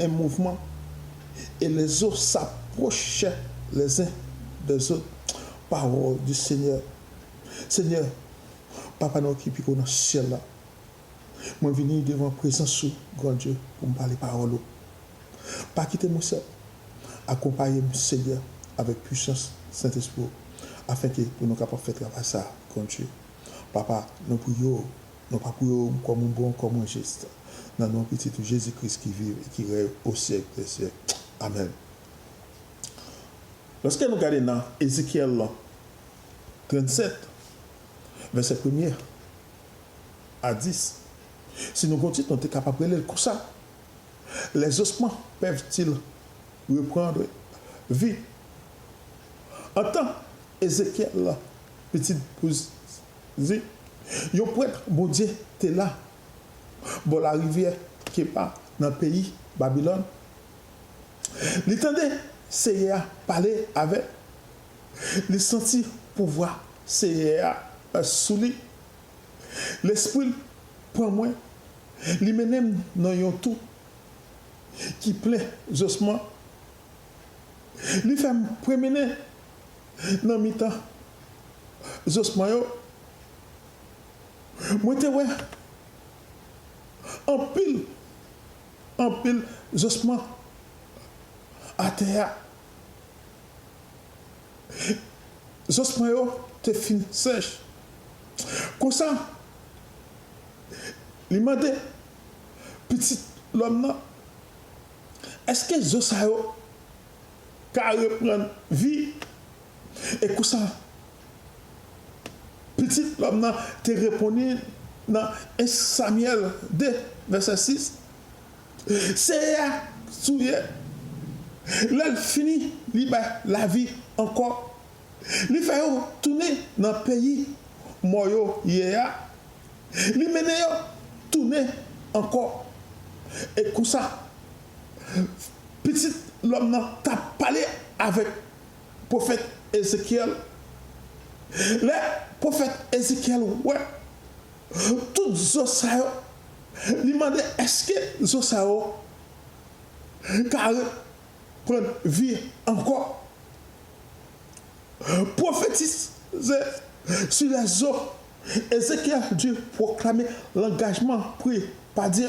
en mouvman et les eaux s'approchaient les uns des autres parole du Seigneur Seigneur papa nou ki pi ko nan syèl la mwen vini devan prezans ou Gran Dye pou m pale pawòl ou pa kite mwen sèl akonpaye m Seigneur avèk pwisans Sentespri w afenke pou nou kapab fè travay sa Gran Dye papa nou priye w Non pa pou yo, kò mwen bon, kò mwen jis. Nan non Pitit ou Jezi Kris ki viv e ki rèy o syèk dè syèk. Amèn. Lòske nou gade nan Ezekyèl 37, vèsè premye a dis, si nou gen yon tit nou te kapab rele l konsa, Les ossements peuvent-ils reprendre vie? Antan Ezekyèl, pitit pou. Di, Yon prèt Bondye te la bò larivyè Keba nan peyi Babilòn. Li tande Senyè a pale avè l, li santi pouvwa Senyè a sou li. Lespri l pran mwen, li mennen m nan yon tou ki plen zosman. Li fè m pwomennen Nan mitan zosman yo, mwen te wè anpil, anpil zosman atè a. Zosman yo te fin sèch. Konsa, li mande Pitit lòm nan, Èske zo sa yo ka reprann vi, e konsa, Pitit lòm nan te reponnin nan 1 Samyèl 2, vèsè 6, Seyè a touye, lè l fini, li bay lavi ankò, li fè yo tounin nan peyi mò yo ye a, li mennen yo tounin ankò, e konsa, Pitit lòm nan t ap pale avèk pwofèt Ezekyèl. Lè pwofèt Ezekyèl wè tout zo sa yo, li mande, Èske zo sa yo ka reprann vi ankò? Pwofetize sou lèzo. Ezekyèl dwe pwoklame langajman pri pa Dye.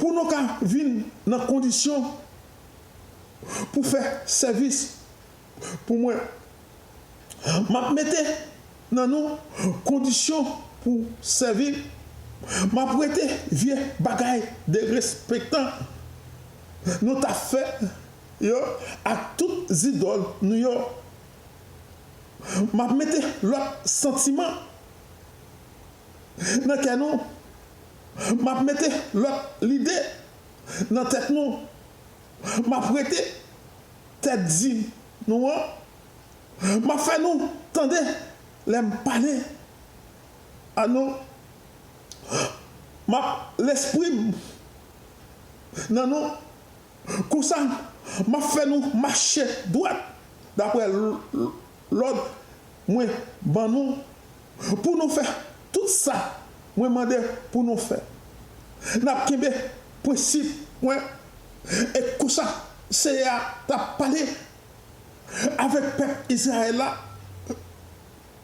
pou nou ka vin nan kondisyon pou fè sèvis pou mwen. M ap mete nan nou kondisyon pou sèvi, m ap wete vye bagay derespektan nou t ap fè yo ak tout zidòl nou yo. M ap mete lòt santiman nan kè nou M ap mete lòt lide nan tèt nou. M ap rete tèt di nou an. M ap fè nou tande lè m pale a nou. M ap lespri m nan nou. Konsa, m ap fè nou mache dwat dapre lòd mwen ban nou. pou nou fè tout sa mwen mande pou nou fè. N ap kenbe prensip mwen. E konsa, Senyè a t ap pale avèk pèp Izrayèl la.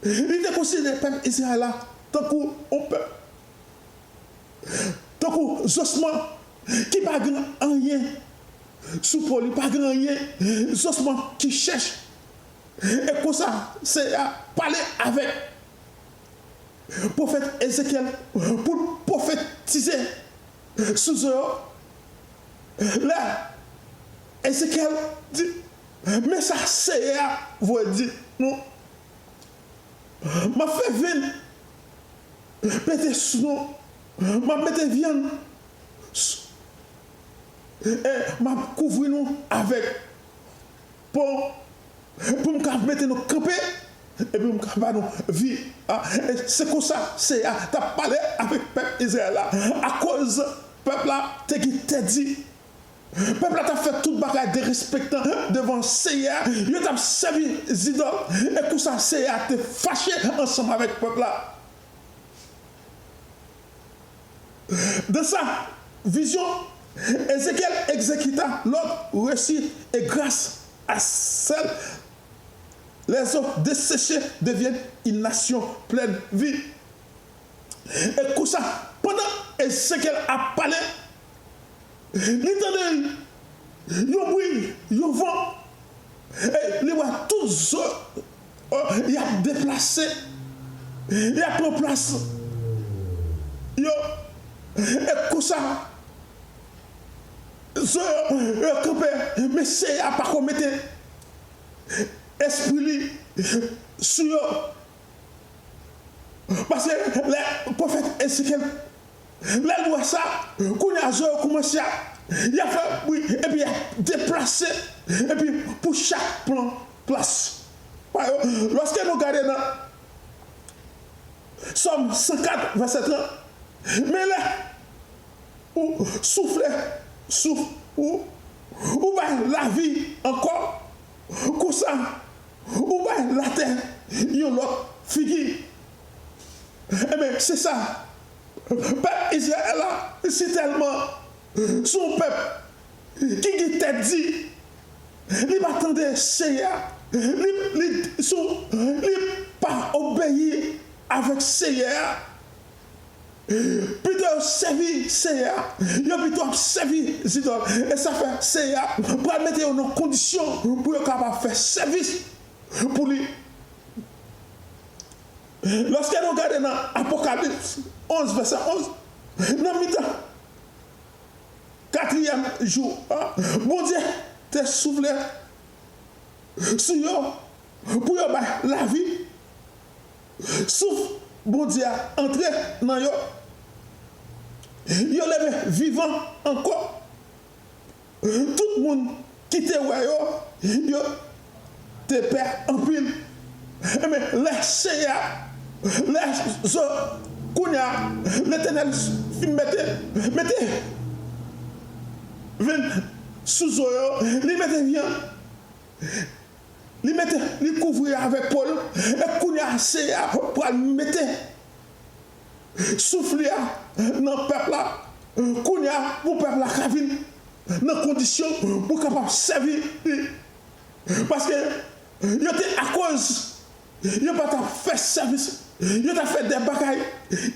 Li te konsidere pèp Izrayèl la tankou yon pèp, tankou zosman ki pa gen anyen sou po li, pa gen anyen, zosman ki chèch. E konsa, Senyè a pale avèk pwofèt Ezekyèl pou l pwofetize sou zo yo. Lè Ezekyèl di, Men sa Senyè a voye di nou, M ap fè vin pete sou nou, m ap mete vyann sou nou e m ap kouvri nou avèk. Pou m ka mete nou kanpe e pou m ka ba nou vi. E se konsa Senyè a t ap pale avèk pèp Izrayèl la, akoz pèp la te gen tèt di. Pèp la t ap fè tout bagay derespektan devan Senyè a, yo t ap sèvi zidòl, e konsa Senyè a te fache ansanm avèk pèp la. Dans sa vizyon Ezekyèl egzekita lòd resi e gras a sèl lè zo deseche devyen yn nasyon plèn vi. E konsa pandan Ezekyèl ap pale, li tande yon bwi yon van e li wè tout zo. Oh y ap deplase, y ap pran plas yo e konsa zo yo kanpe men Seyè a pako mete espri li sou yo paske lè pwofèt Ezekyèl Lè l wè sa, kounye a zo yo koumanse ap, y ap fè bwi epi y ap deplase epi pou chak pran plas pa yo. Lòske nou gade nan Sòm 104 vèsè 30, Men lè Ou soufle souf Ou, Ou bay lavi ankò, konsa Ou bay latè yon lòt figi. Enben, se sa, pèp Izrayèl la sitèlman se yon pèp ki gen tèt di, li pa tande Senyè a, li, li, sou, li pa obeyi avèk Senyè a. Pito yo sèvi Senyè a, yo pito ap sèvi zidòl. E sa fè Senyè a pral mete yo nan kondisyon pou yo kapab fè sèvis pou li. Lòske nou gade nan Apokalips 11, vèsè 11, nan mitan katriyèm jou a, Bondye te soufle sou yo pou yo bay lavi, souf Bondye a antre nan yo, yo leve vivan ankò. Tout moun ki te wè yo, yo te pè anpil. Men, lè Seyè a, lè zo, kounye a, Letènèl fin mete, mete venn sou zo yo, li mete vyann, li mete, li kouvri avèk po l, e kounye a Seyè a pral mete Souf li a nan pèp la kounye a pou pèp la ka vin nan kondisyon pou kapab sèvi li. Paske yo te akoz yo pa ta fè sèvis yo ta fè de bagay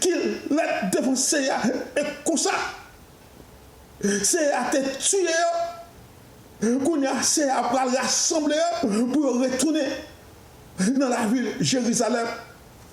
ki lèd devan Senyè a e konsa Senyè a te tiye yo. Kounye a Senyè a pral rasanble yo pou yo retounen nan lavil Jerizalèm.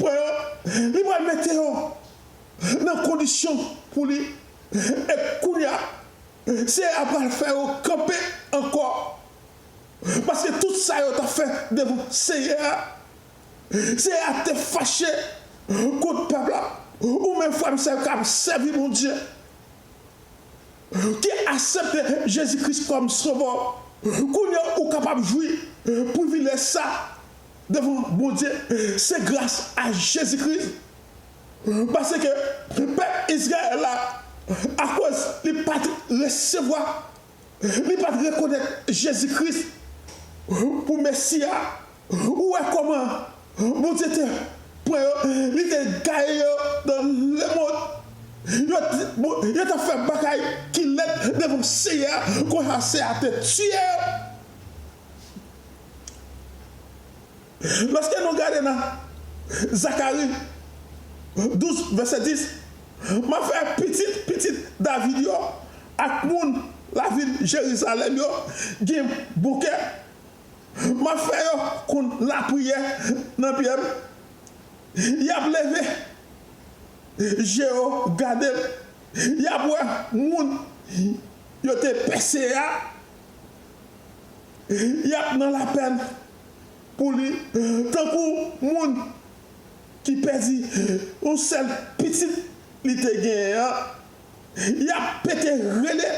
Pwen yo, li pral mete yo nan kondisyon pou li e kounye a Seyè a pral fè yo kanpe ankò, paske tout sa yo ta fè devan Seyè a, Seyè a te fache kont pèp la. Ou menm frè m sè m kap sèvi Bondye, ki asepte Jezi Kris kòm sovè w, kounye a ou kapab jwi privilèj sa devan Bondye se gras a Jezi Kris paske pèp Izrayèl la akoz li pat resevwa li pat rekonèt Jezi Kris pou Mesi a ou wè kòman Bondye te pran yo li te gaye yo nan lemond yo tap fè bagay ki lèd devan Senyè a konsa Senyè a te tiye yo. Lòske nou gade nan Zakari, douz, vèsè dis, M ap fè pitit pitit David yo ak moun lavil Jerizalèm yo gen bon kè, m ap fè yo konn lapriyè nan pye m, y ap leve je yo gade m, y ap wè moun yo te pèse a. Y ap nan lapèn pou li tankou moun ki pèdi yon sèl pitit li te genyen an, y ap pete rele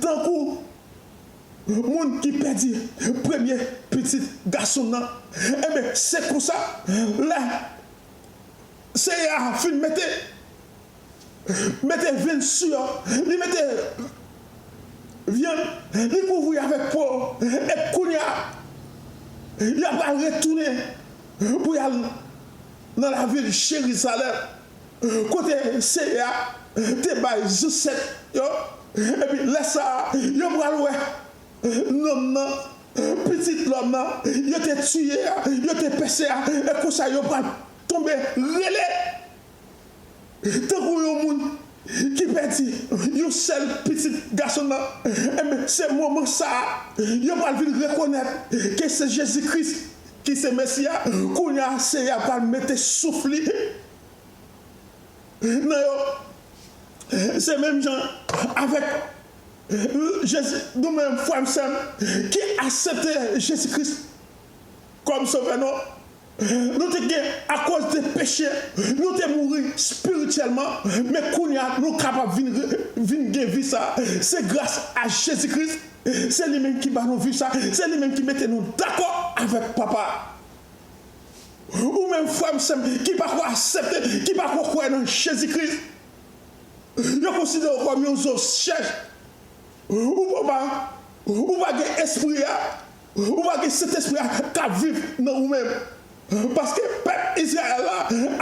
tankou moun ki pèdi premye pitit gason l lan. Enben, se konsa, lè Senyè a fin mete mete vin sou yo, li mete vyann, li kouvri avèk po, epi kounye a, y apral retounen pou y al nan lavil Jerizalèm, kote Senyè a te bay zansèt yo, epi lè sa a, yo pral wè nonm nan, Pitit lòm nan, yo te tiye a, yo te pèse a, e konsa yo pral tonbe rele. Tankou yon moun ki pèdi yon sèl pitit gason nan, enben se moman sa a yo pral vin rekonèt ke se Jezi Kris ki se Mesi a, kounye a Senyè a pral mete souf li nan yo. Se menm jan avèk Jezi, nou menm frè m sè m ki asepte Jezi Kris kòm Sovè nou, Nou te gen akoz de peche, nou te mouri spirityèlman, men kounye a nou kapab vin vin gen vi sa a, se gras a Jezi Kris, se li menm ki ba nou vi sa a, se li menm ki mete nou dakò avèk Papa a. Ou menm frè m, sè m ki pa ko asepte, ki pa ko kwè nan Jezi Kris, yo konsidere w kòm yon zo chèch, ou pa ou pa gen Espri a. Ou pa gen Sentespri a k ap viv nan ou menm. Paske pèp Izrayèl la,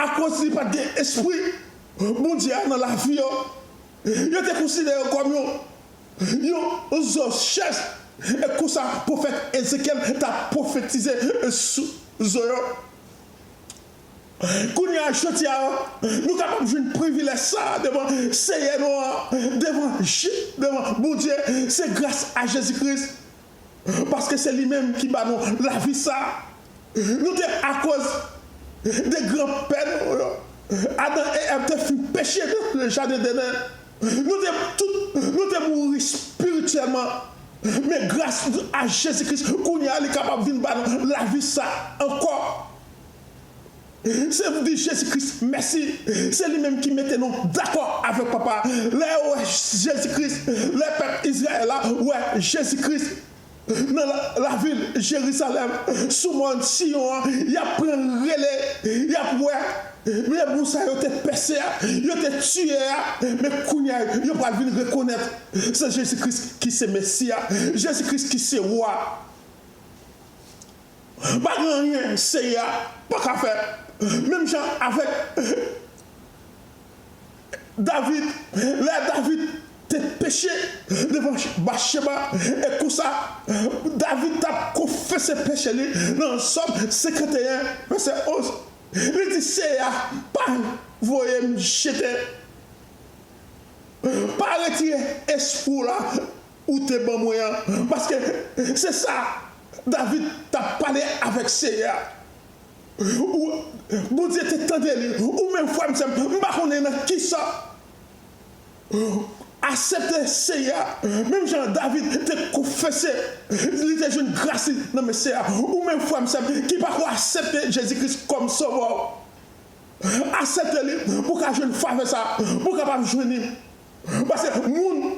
akoz li pa t gen Espri Bondye a nan lavi yo, yo te konsidere yo kòm yon zo chèz. E konsa pwofèt Ezekyèl t ap pwofetize sou zo yo. Kounye a, jodi a, nou kapab jwenn privilèj sa a devan Senyè nou an, devan Bondye, se gras a Jezi Kris. paske se li menm ki ba nou lavi sa a. Nou te akoz de gran pè nou yo, Adan e Èv te fin peche nan jaden Deden. Nou te tout nou te mouri spirityèlman, men gras a Jezi Kris kounye a li kapab vin ba nou lavi sa a ankò. Se pou di Jezi Kris mèsi, se li menm ki mete nou dakò avèk Papa a. Lè yo wè Jezi Kris, lè pèp Izrayèl la wè Jezi Kris nan lavil Jerizalèm, sou mòn Siyon an, y ap pran rele, y ap wè Lebou sa yo te pèse a, yo te tiye a, men kounye a yo pral vin rekonèt se Jezi Kris ki se Mesi a, Jezi Kris ki se Wa a. Pa gen anyen Senyè a pa ka fè. Menm jan avèk David, lè David te peche devan Batcheba, e konsa David t ap konfese peche li nan Sòm 51, vèsè 11, li di, Senyè a pa voye m jete, pa retire espri w la. ou te ban mwen an, paske se sa David t ap pale avèk Seyè a. Ou, Bondye, te tande li, ou menm frè m, sè m, m pa konnen nan ki sa ou asepte Seyè a, menm jan David te konfese li te jwenn gras li nan men Seyè a, ou menm frè m, sè m, ki pa ko asepte Jezi Kris kòm Sovè w, asepte li pou w ka jwenn favè sa a, pou w kapab jwenn li, paske moun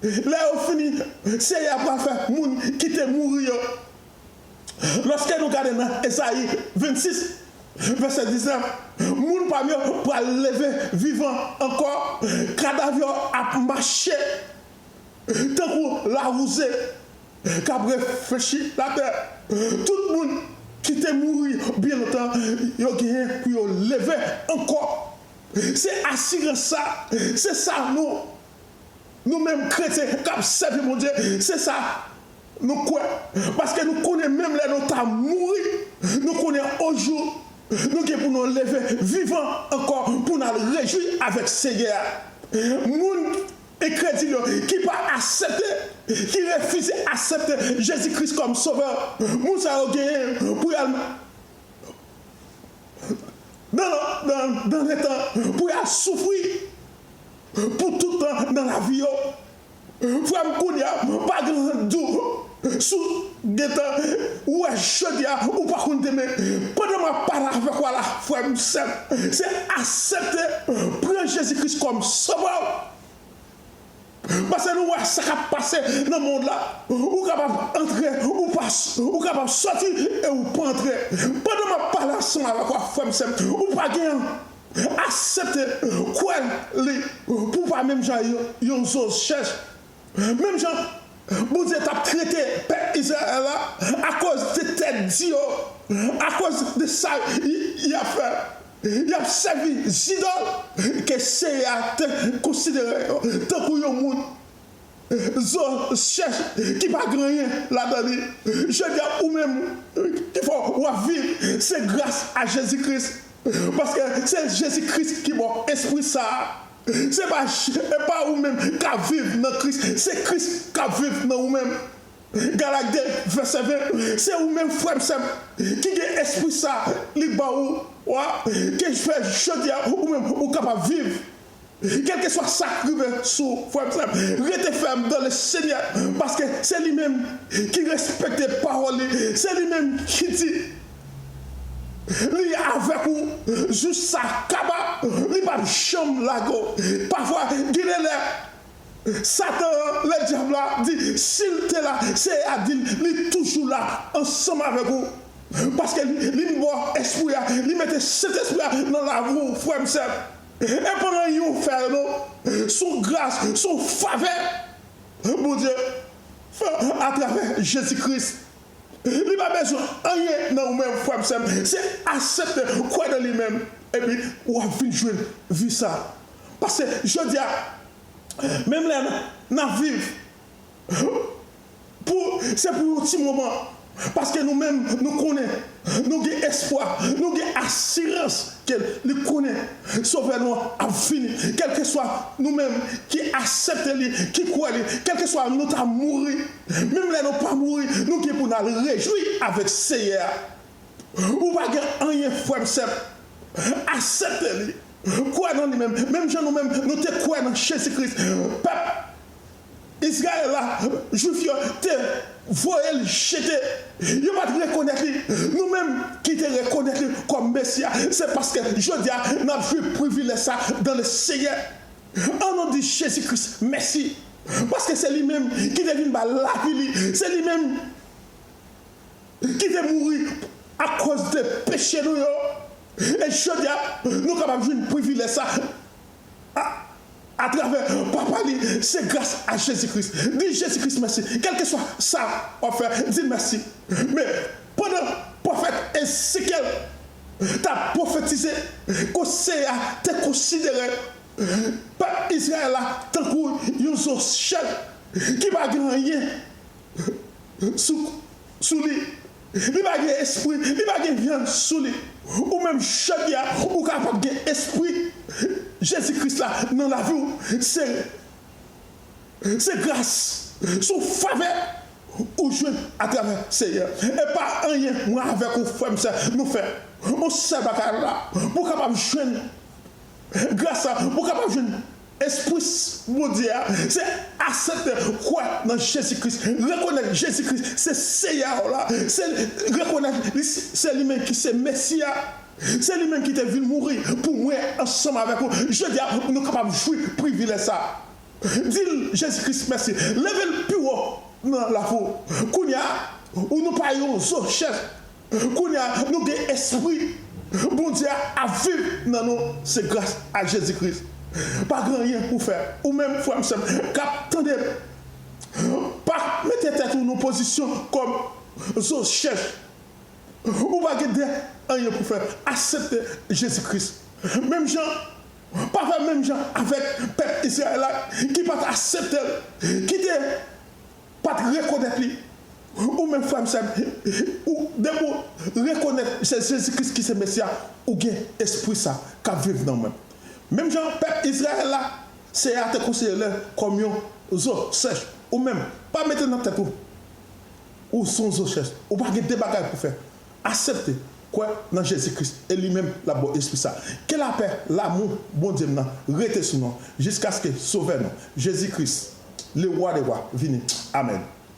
Lè yo fini, Senyè a pral fè moun ki te mouri yo. Lòske nou gade nan Ezayi 26, vèsè 19, moun pa m yo pral leve vivan ankò, kadav yo ap mache tankou lawouze k ap reflechi latè. Tout moun ki te mouri byen lontan yo genyen pou yo leve ankò. Se asirans sa a, se sa nou. Nou menm kretyen k ap sèvi Bondye, se sa nou kwè, paske nou konnen menm lè nou ta mouri, nou konnen onjou nou gen pou nou leve vivan ankò pou n al rejwi avèk Senyè a. Moun enkredil yo ki pa asepte, ki refize asepte Jezi Kris kòm Sovè, moun sa yo genyen pou y al nan lanfè pou y al soufri. Pou tout tan nan lavi yo. Frèm kounya pa gen ront di w sou gentan wè jodia ou pa konn demen pandan map pale avèk ou a la frèm sèm se asepte pran jezi kris kòm sovè w pase nou wè sa kap pase nan mond la ou kapab antre ou pa ou kapab soti e ou pa antre pandan map pale ansanm avèk ou a frèm sèm ou pa gen Aksepte kwè li pou w pa menm jan yon zo chèch. Menm jan Bondye t ap trete pèp Izrayèl la akoz de tèt di yo, akoz de sa y ap fè, y ap sèvi zidòl ke Senyè a te konsidere yo tankou yon moun. Zo chèch ki pa gen anyen ladan li jodi a ou menm ki fè w ap viv se gras a Jezi Kris paske se Jezi Kris ki ba w espri sa a se pa e pa ou menm k ap viv nan Kris se Kris k ap viv nan ou menm Galak 2 vèsè 20 se ou menm frè m sè m ki gen espri sa a li ba ou a ke fè jodi a ou menm ou kapab viv Kèlkeswa sak rive sou frèm sèm rete fèm dan le senyè paske se li menm ki respekte pawòl li se li menm ki di li avèk ou jous sa kaba li pap janm lage w pafwa gen de lè satan an le dyab la di sil te la seyè a dil li toujou la ansanm avèk ou paske li m bò espri a li mete sentespri a nan lavi w frèm sèm. E pandan yon fè yo non, son gras, son favè Bondye fè atravè Jezi Kris. Li pa bezwen anyen nan ou menm frè m sè m, se asepte kwè nan li menm epi w ap vin jwenn vi sa. Paske jodi a, menm lè n ap viv Pou se pou yon ti moman paske nou menm nou konnen nou gen espwa nou gen asirans ke li konnen sovè nou an ap vini kèlkeswa nou menm ki asepte li ki kwè li kèlkeswa nou ta mouri menm lè nou pa mouri nou gen pou nal rejwi avèk seyè a ou pa gen anyen frèm sèm asepte li kwè nan li menm menm jan nou menm nou te kwè nan jezi kris pèp Israël la jwif yo te voye li jete yo pat rekonèt li nou menm ki te rekonèt li kòm mesi a se paske jodia nap jwi privilèj sa dan le senyè an nou di jezi kris mèsi paske se li menm ki te vin ba lavi li se li menm ki te mouri akòz de peche nou yo e jodia nou kapab jwin privilèj sa. a atravè Papa li se gras a Jezi Kris. Di Jezi Kris mèsi. Kèlkeswa sa wap fè, di l mèsi. Men, pandan pwofèt Ezekyèl t ap pwofetize, kò Senyè a te konsidere pèp Izrayèl la tankou yon zo chèn ki pa gen anyen sou li. Li pa gen espri, li pa gen vyann sou li. Ou menm jodi a ou ka pap gen espri Jezi Kris la nan lavi'w se se gras se yon favè ou jwenn atravè Senyè e pa anyen mwen avèk ou frè'm sè nou fè yon sèl bagay la pou kapab jwenn gras la pou kapab jwenn Espris Bondye a se asepte, kwè nan Jezi Kris, rekonèt Jezi Kris se Seyè w la, se rekonèt li se li menm ki se Mesi a, se li menm ki te vin mouri pou mwen ansanm avèk ou. Jodi a nou kapab jwi privilèj sa a. Di l, Jezi Kris mèsi. Leve l pi wo nan lavi w. Kounye a, ou nou pa yon zo chèf. Kounya nou gen espri Bondye a ap viv nan nou se gras a Jezi Kris pa gen anyen pou fè ou menm frèm sèm kap tandem pa mete tèt ou nan pozisyon kòm zo chèch ou pa gen de anyen pou fè asepte Jezi Kris menm jan pa fè menm jan avèk pèp Izrayèl la ki pat aseptel kite Pat rekonèt li ou menm frèm sèm ou depi ou rekonèt se Jezi Kris ki se Mesi a ou gen espri sa kap viv nan ou menm menm jan pèp Izrayèl la Seyè a te konseye lè kòm yon zo sèch ou menm pa mete nan tèt ou ou son zo chèch ou pa gen 2 bagay pou fè Asepte, kwè nan Jezi Kris e li menm l'ap ba w Espri sa. Ke lapè, lamou Bondye m nan rete sou nou jiskaske Sovè nou, Jezi Kris, Le Roi des Rois, vini. Amèn.